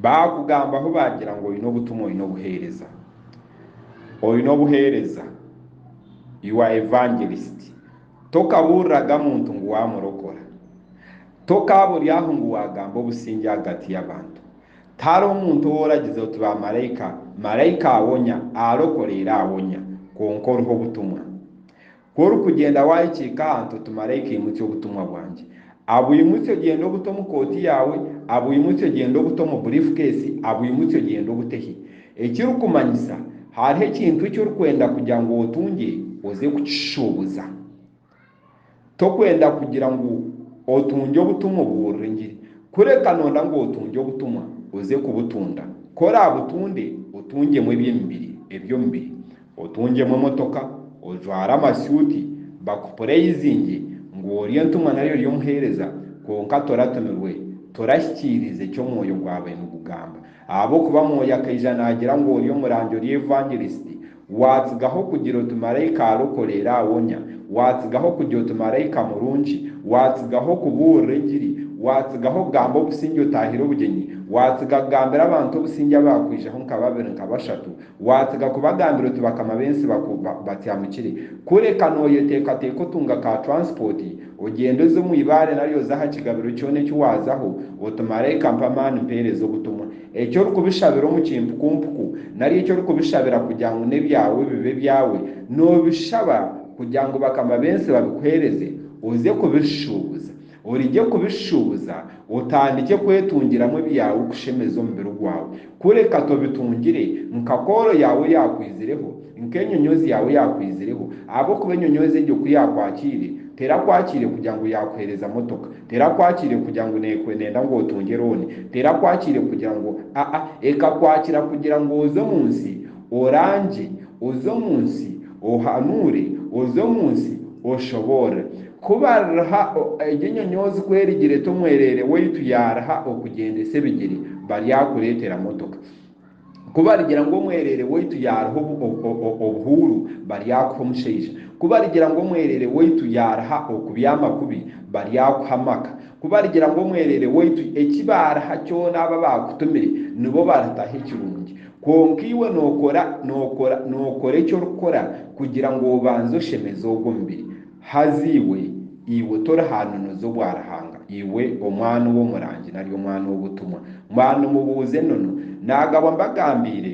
Baakugambaho baagira ngu oine obutumwa, oine obuheereza. Oine obuheereza, you are evangelist. Tokabuuriraga muntu ngu waamurokora. Tokaaba ori aho ngu waagamba obusingye ahagati y'abantu. Tihariho muntu ou oragize oti baamaraika, maraika awonya, arokora era awonya, kwonka oriho obutumwa. Ku orikugyenda waahikiika aha ntoto maraika aimutse obutumwa bwangye. Abwimutse ogyende obute omu kooti yaawe, abwimutse ogyende obute omu burifukeesi, abwimutse ogyende obute hi. Ekirikumanyisa, hariho ekintu eki orikwenda kugira ngu otungye oze kukishuubuza. Torikwenda kugira ngu otungye obutumwa obubuurira engiri. Kureka noyenda ngu otungye obutumwa oze kubutunda. Ku oraabutunde, otungyemu eby'emibiri, eby'omubiri. Otungyemu emotoka, ojware amasuuti, bakupureyizingye ngu ori entumwa nari ori omuheereza, kwonka toratumirwe, torahikiiriza eki omwoyo gwabaire nigugamba. Ahabw'okuba mwoyo akaija naagira ngu ori omurangi, ori evangelisiti, waatsigaho kugira oti maraika arokoreera awonya, waatsigaho kugira oti maraika murungi, waatsigaho kubuurira engiri, waatsigaho kugamba obusingye otaahire obugyenyi, waatsiga kugambira abantu obusingye abaakwijaho nka babiri nka bashatu, Waatsiga kubagambira oti bakama b'ensi baku ba, batyamukire. Kureka nooyeteekateeka otunga ka turansipooti, ogyende oze omu ibaare nari oze aha kigabiro kyona eki waazaho, oti, Maraika mpa amaani mpeereze obutumwa. Eki orikubishabira omu kimpukumpuku, nari eki orikubishabira kugira ngu n'ebyawe bibe ebyawe, noobishaba kugira ngu bakama b'ensi babikuheereze, oze kubishuubuza. Origye kubishuushuubuza, otandikye kwetungiramu ebyaawe okushemeza omubiri gwaawe. Kureka tobitungire, nka kooro yaawe eyakwizireho, nka enyonyoozi yaawe eyakwizireho, ahabw'okuba enyonyoozi egyo ku yaakwakiire, terakwakiire kugira ngu yakuheereza motoka, terakwakiire kugira ngu nekwe nenda ngu otunge looni, terakwakiire kugira ngu aa, ekakwakira kugira ngu oze omu nsi, orangye, oze omu nsi, ohanuure, oze omu nsi, oshoboorre. Ku bariha egyo enyonyoozi ku erigire ta omwereere waitu yaariha okugyendesa ebigyere baryakureetera motoka. Ku barigira ngu omwereere waitu yaariha obuhuuru baryakuha omushaija. Ku barigira ngu omwereere waitu yaariha okubyama kubi baryakuha amaka. Ku barigira ngu omwereere waitu eki baariha kyona aba baakutumire nibo baritaho ekirungi. Kwonka iwe nookora nookora nookora eki orikukora kugira ngu obanze oshemeze ogwo mubiri. Haza iwe, iwe torihanunuza obwa Ruhanga, iwe omwana ow'omurangi nari omwana ow'obutumwa, mwanimubuuza enono, naagabwa mbagambiire?